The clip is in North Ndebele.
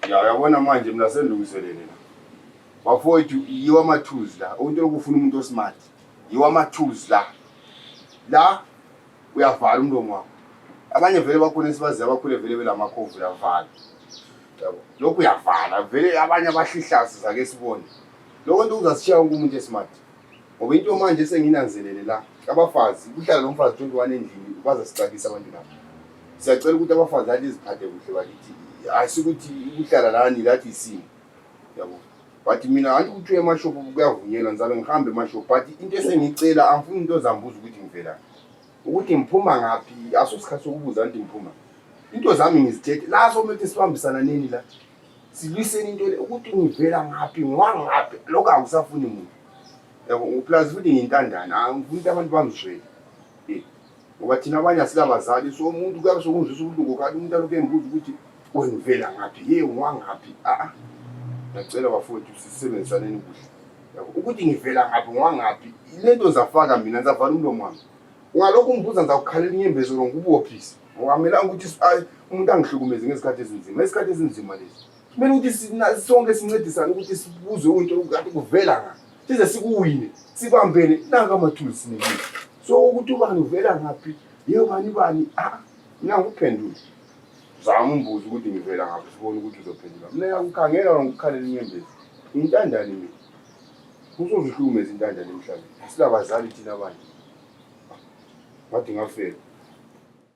Ya yabona manje mina sendilungiselele la. Bafowethu yiwa ama tools la. Umuntu lokufuna umuntu osmart. Yiwa ama tools la. La uyavala umlomo wakho. Abanye vele bakhona esibazi abakhule vele belamakhovu lavala. Yabo. Lokhu uyavala vele abanye abahlihlasi zake sibone. Lokho nto uzasishiya wonke umuntu esmart. ngoba into manje senginanzelele la abafazi kuhlala lo mfazi 21 endlini baza sixakisa abantu laba siyacela ukuthi abafazi athi iziphathe kuhle bakithi asikuthi ukuhlala lani lathi isimo yabo but mina anti ukuthi uye emashophu kuyavunyelwa ngizabe ngihambe emashophu but into esengiyicela angifuni into zambuza ukuthi ngivela ukuthi ngiphuma ngaphi aso sikhathi sokubuza anti ngiphuma into zami ngizithethe la sokumele ukuthi sibambisana nini la silwiseni into le ukuthi ngivela ngaphi ngiwangaphi lokho angisafuni muntu yabo plus futhi ngiyintandane angifuni ukuthi abantu bangizwele eh, ngoba thina abanye asilabazali so umuntu kuyabe sokungizwisa ubuhlungu khathi umuntu alokhu engibuza ukuthi wengivela ngaphi ye ngiwangaphi aa ah, ah. ngiyacela bafowethu sisebenzisaneni kuhle yabo ukuthi ngivela ngaphi ngiwangaphi le nto zafaka mina ngizavala umlomo wami ungalokhu ungibuza ngizakukhalela inyembezelo ngikubophise Ngiwamelanga ukuthi umuntu angihlukumeze ngezikhathi ezinzima. Isikhathi esinzima lesi. Kumele ukuthi sonke sincedisane ukuthi sibuze into ukuthi kuvela ngaphi. Size sikuwine, sibambene nanga amathulu sinikile. So ukuthi ubani uvela ngaphi? Yebo bani bani? Ah, mina ngikuphendule. Zama umbuzo ukuthi ngivela ngaphi sibone ukuthi uzophendula. Mina ngiyakukhangela ngikukhalela inyembezi. Intandane mina. Usozihlukumeza intandane emhlabeni. Silabazali thina abanye. Ngathi ngafela.